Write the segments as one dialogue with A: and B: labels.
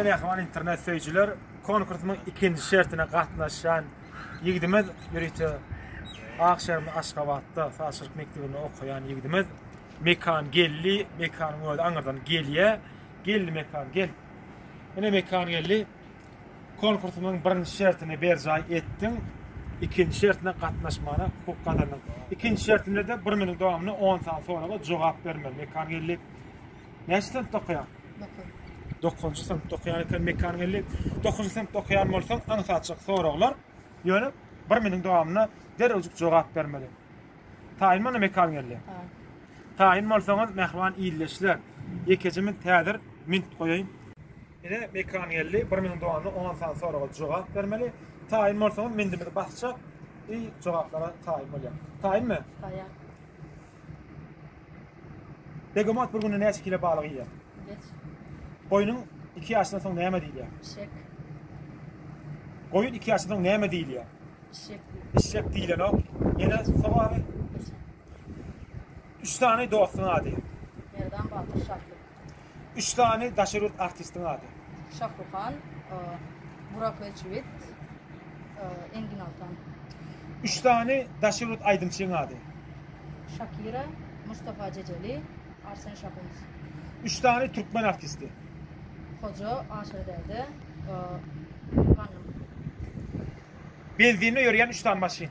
A: Ene Ahmal internet söýüjiler konkursyň ikinji şertine gatnaşýan ýigdimiz ýörite ak şäherinde Aşgabatda saçylyk mekdebinde okaýan ýigdimiz Mekan geldi Mekan özi aňyrdan gelýä geldi Mekan gel Ene Mekan geldi konkursyň birinji şertini berjaý etdiň ikinji şertine gatnaşmana hukuk gazandyň ikinji şertinde de bir meniň dowamynda 10 sany soraga jogap bermeli Mekan geldi Näçe sen tokaýaň? Dokuzynjy synpda okaýan eken mekanyň elli. Dokuzynjy synpda okaýan bolsaň, aňsatjak soraglar. Ýöne bir miniň dowamyna derrewjik jogap bermeli. Taýyn boldy mekanyň elli. Taýyn bolsaňyz, mähriban ildeşler, ýekeje mint häzir mint goýaýyn. Ine, mekanyň elli, bir miniň dowamyna on sany soraga jogap bermeli. Taýyn bolsaňyz, mintimizi basjak, i jogaplara taýyn bolýar. Taýynmy? Taýýar. Begemot bir günde näçe kilo balyk iýýär? Hiç.
B: Goýnuň
A: iki ýaşdan soň näme diýilýär?
B: Şek. Goýun
A: iki ýaşdan soň näme diýilýär? Şek.
B: Işşek diýilenok.
A: Ýene soragy. Hiç. Üç sany dostuň ady. Merdan, Batyr,
B: Şahyr. Üç sany
A: daşary ýurt artistiň ady. Şahruhan,
B: Burak Özçiwit, Engin Altan. Üç
A: sany daşary ýurt aýdymçyň ady. Şakira,
B: Mustafa Ceceli, Arsen Şahuns. Üç sany
A: türkmen artisti. Hoja,
B: Aşyr Däde, Ganym.
A: Benzinle ýörýän üç sany maşyn.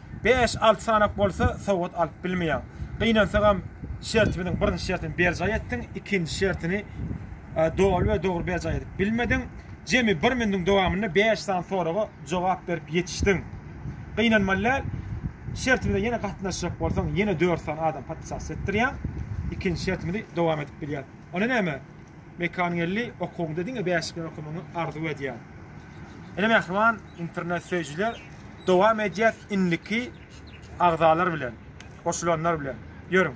A: bäş, alty sanak bolsa sowgat alyp bilmeýäň. Gynansagam şertimiziň birinji şertini berjaý etdiň, ikinji şertini doly we dogry berjaý edip bilmediň. Jemi bir minutiň dowamynda bäş sany soraga jogap berip ýetişdiň. Gynanmaly däl. Şertimize ýene gatnaşjak bolsaň, ýene dört sany adam podpisasiýa etdirýäň. Ikinji şertimizi dowam edip bilýäs. Onda näme? Mekanyň elli, okuwyňda diňe bäşlik bilen okamagyňy arzuw edýän. Ine mähriban internet söýüjiler, Dowam edýäs indiki agzalar bilen, goşulanlar bilen. Ýörüň!